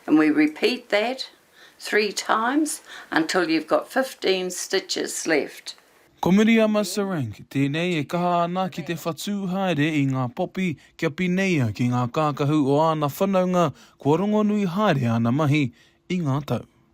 And we repeat that three times until you've got fifteen stitches left. Ko Miriama Serank tēnei e kaha ana ki te whatū haere i ngā popi kia pineia ki ngā kākahu o āna whanaunga kua rongonui haere āna mahi i ngā tau.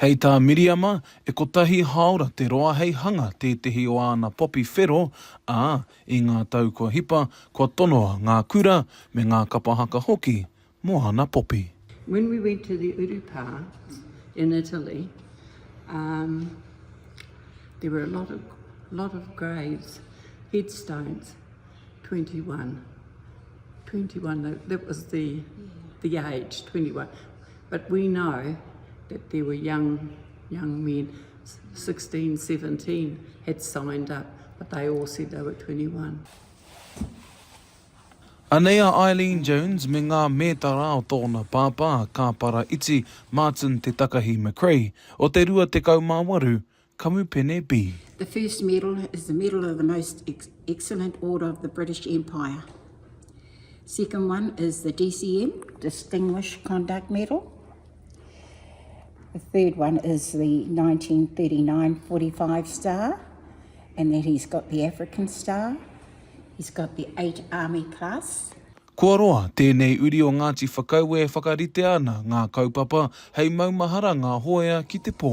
Hei tā Miriama, e kotahi hāora te roa hei hanga tētehi o āna popi whero, ā, i ngā tau kua hipa, kua tonoa ngā kura me ngā kapa haka hoki mō āna popi. When we went to the uru pa in Italy um there were a lot of lot of graves headstones twenty one twenty one that was the the age twenty one But we know that there were young young men 16, 17 had signed up but they all said they were 21. Anei a Eileen Jones me ngā mētara o tōna pāpā a Kāpara Iti Martin Te Takahi McRae o te 28 Kamupene B. The first medal is the medal of the most excellent order of the British Empire. Second one is the DCM, Distinguished Conduct Medal. The third one is the 1939 45 star, and then he's got the African star. He's got the 8 Army Plus. Kua roa tēnei uri o Ngāti Whakaue e whakaritea ana ngā kaupapa hei maumahara ngā hōea ki te pō.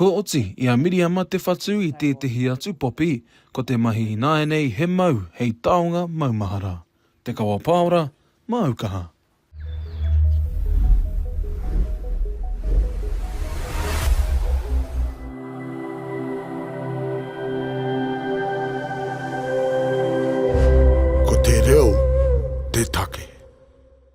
Kua oti i a Miriama te whatu i tētehi atu popi, ko te mahi ināianei he mau hei taonga maumahara. Te Kawa Paora, māu kaha. Ko te reo te take.